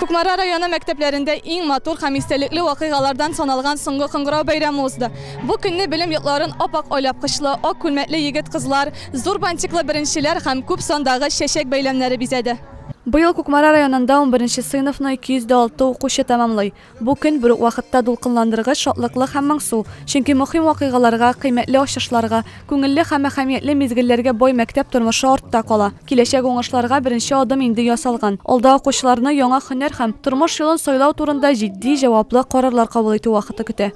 Кукмара районы мәктәпләрендә иң матур һәм истәлекле вакыйгалардан саналган соңгы кыңгырау бәйрәме узды. Бу көнне белем йортларын ап-ак айлапкычлы, ак күлмәкле егет-кызлар, зур бантиклы беренчеләр һәм күп сандагы чәчәк бәйләмнәре бизәде. Быел Кукмара районында унберенче сыйныфны 206 укучы тәмамлый. Бу көн бер үк вакытта дулкынландыргыч, шатлыклы һәм моңсу, чөнки мөһим вакыйгаларга, кыйммәтле ачышларга, күңелле һәм әһәмиятле мизгелләргә бай мәктәп тормышы артта кала. Киләчәк уңышларга беренче адым инде ясалган. Алда укучыларны яңа һөнәр һәм тормыш юлын сайлау турында җитди, җаваплы карарлар кабул итү вакыты көтә.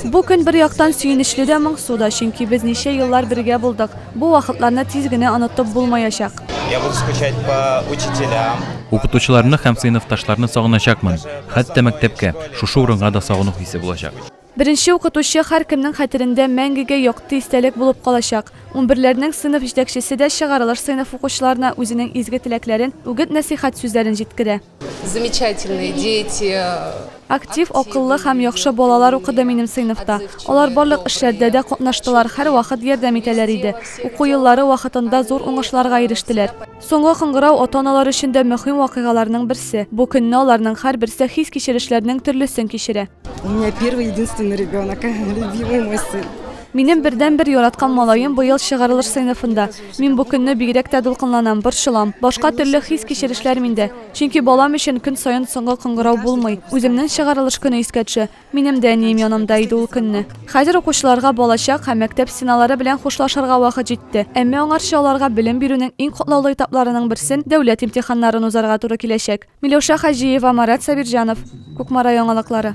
Бу көн бер яктан сөенечле дә, моңсу да, чөнки без ничә еллар бергә булдык. Бу вакытларны тиз генә онытып булмаячак. Я буду скучать по учителям. Укытучыларны һәм сыйныфташларны сагыначакмын. Хәтта мәктәпкә, шушы урынга да сагыну хисе булачак. Беренче укытучы һәркемнең хәтерендә мәңгегә якты истәлек булып калачак. Унберләрнең сыйныф җитәкчесе дә чыгарылыш сыйныф укучыларына үзенең изге теләкләрен, үгет-нәсыйхәт сүзләрен җиткерә. Замечательные дети. Актив, акыллы һәм яхшы балалар укыды минем сыйныфта. Алар барлык эшләрдә дә катнаштылар, һәрвакыт ярдәм итәләр иде. Уку еллары вакытында зур уңышларга ирештеләр. Соңгы кыңгырау ата-аналар өчен дә мөһим вакыйгаларның берсе. Бу көнне аларның һәрберсе хис-кичерешләрнең төрлесен кичерә. У меня первый единственный ребенок, любимый мой сын. Минем бердән бер яраткан малаем быел чыгарылыш сыйныфында. Мин бу көнне бигрәк тә дулкынланам, борчылам. Башка төрле хис кичерешләр миндә. Чөнки балам өчен көн саен соңгы кыңгырау булмый. Үземнең чыгарылыш көне искә төшә. Минем дә әнием янымда иде ул көнне. Хәзер укучыларга балачак һәм мәктәп стеналары белән хушлашырга вакыт җитте. Әмма аңарчы аларга белем бирүнең иң котлаулы этапларының берсен, дәүләт имтиханнарын узарга туры киләчәк. Миләүшә Хаҗиева, Марат Сабирҗанов, Кукмара яңалыклары.